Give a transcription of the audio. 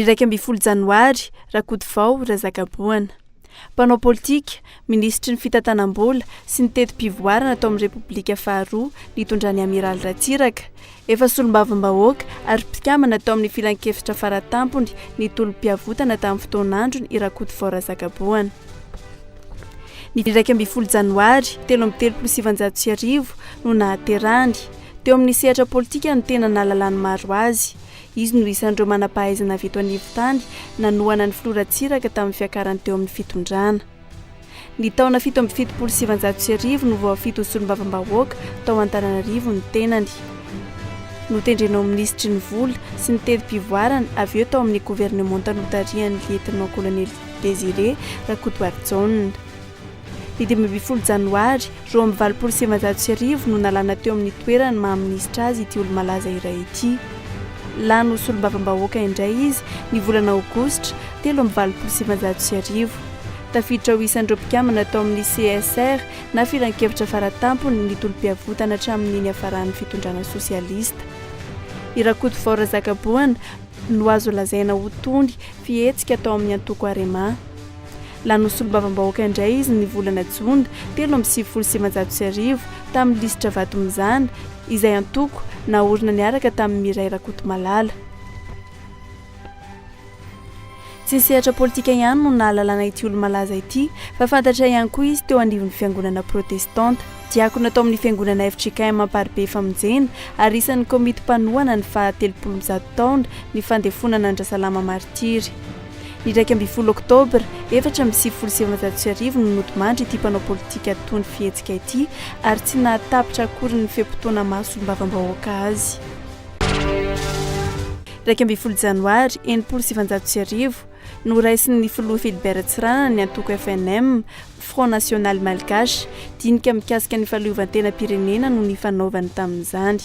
Iraika ambin'ny folo janoary, Rakotovao Razakaboana. Mpanao politika, minisitry ny fitantanam-bola sy ny teti-pivoarana tao amin'ny Repoblika faharoa nitondran'ny Amiraly Ratsiraka. Efa solombavambahoaka ary mpikambana tao amin'ny filankevitra faratampony ny tolom-piavotana tamin'ny fotoan'androny i Rakotovao Razakaboana. Ny iraika ambin'ny folo janoary telo amby telopolo sy sivinjato sy arivo no nahaterahany. Teo amin'ny sehatra politika no tena nahalalan'ny maro azy. Izy no isan'ireo manam-pahaizana avy eto anivon-tany nanohana ny filoha Ratsiraka tamin'ny fiakarany teo amin'ny fitondrana. Ny taona fito amby fitopolo sy sivinjato sy arivo no voafidy ho solombavambahoaka tao Antananarivo ny tenany. Notendrena ho minisitry ny vola sy ny tevi-pivoarana avy eo tao amin'ny governemanta notarihan'ny lietnant-kolonely Désiré Rakotoarijaona. Ny dimy ambin'ny folo janoary roa amby valopolo sy sivinjato sy arivo no nalana teo amin'ny toerany maha minisitra azy ity olo-malaza iray ity. Lany ho solombavambahoaka indray izy ny volana aogositra telo amby valopolo sy sivinjato sy arivo. Tafiditra ho isan'ireo mpikambana tao amin'ny CSR na Filankevitra Faratampony ny tolom-piavotana hatramin'ny niafaran'ny fitondrana sosialista. I Rakotovao Razakaboana no azo lazaina ho tony fihetsika tao amin'ny antoko Arema. Lany ho solombavambahoaka indray izy ny volana jona telo amby sivifolo sy sivinjato sy arivo tamin'ny lisitra Vato mizana, izay antoko naorina niaraka tamin'i Miray Rakotomalala. Tsy ny sehatra politika ihany no nahalalana ity olo-malaza ity fa fantatra ihany koa izy teo anivon'ny fiangonana protestanta. Diakona tao amin'ny fiangonana fjkm Amparibe Famonjena ary isan'ny komity mpanohana ny faha telopolo mzato taona ny fandefonana an-dRasalama maritiry. Ny iraika ambin'ny folo Oktobra efatra amby sivifolo sy efajato sy arivo no nodimandry ity mpanao politika tony fihetsika ity ary tsy nahatapitra akory ny fe-potoana maha solombavambahoaka azy. Iraika ambin'ny folo Janoary enimpolo sy sivinjato sy arivo, noraisin'ny filoha Philbert Tsiranana ny antoko FNM, Front National Malgache, dinika mikasika ny fahaleovantenam-pirenena no nifanaovany tamin'izany.